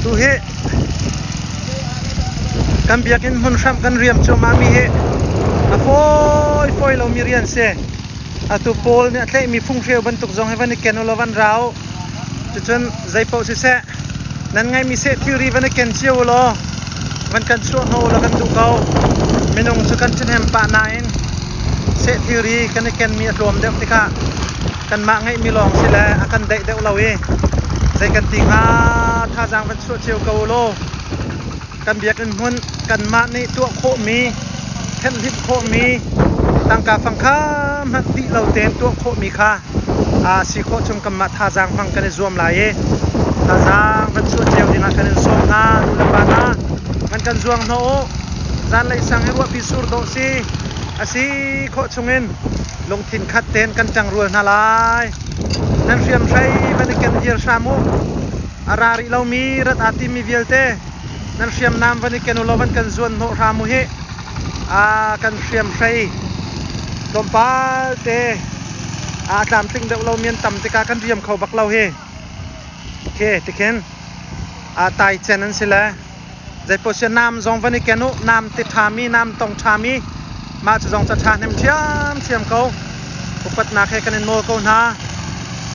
Tuhi kan biakinn hmun hram kan riam cuahmah mi hi a fawi lo mi rian si. Atu Paul nih a tleihmi phunghreu bantuk zong hi van i ken ulaw van rau. Cucun zeipaoh siseh Nan ngaimi seh thilri van i ken cio u law van kan chuah hnawh u law kan duh ko. Minung cu kan cihnem pah nain seh thilri kan i kenmi a tlawm deuh tikah kanmah ngeihmi lawng si le a kan daih deuh lo i zei kan ti hnga thazaang van chuah cio ko u law. kan biakinn hmun kanmah nih tuah khawhmi thenhhlimh khawhmi tangka fangkha hmanh dih lo tein tuah khawhmi kha si khawh chung kanmah thazaang hmang kan i zuam lai i thazaang van chuah cio dingah kan in sawm hna nu le pa hna man kan zuang hnawh u zanlei sang i ruahpi sur dawh si asi khawh chungin lungthin khat tein kan ṭangrual hna lai nan hriamhrei van i ken hir hram u a ra rih lomi rat aa timmi vialte nan hriamnam van i ken ulaw van kan zuan hnawh hram u hih aa kan hriam hrei tlawmpal te aa tlamtling deuh lo mian tam tikah kan riam kho bak lo hi okay tikhin aa tai cen an si le zei poh si nam zong van i ken u nam ti ṭhami nam tong ṭhami mah cu zong ca ṭha hnem ṭhiamṭhiam ko upatnak he kan in nawl ko hna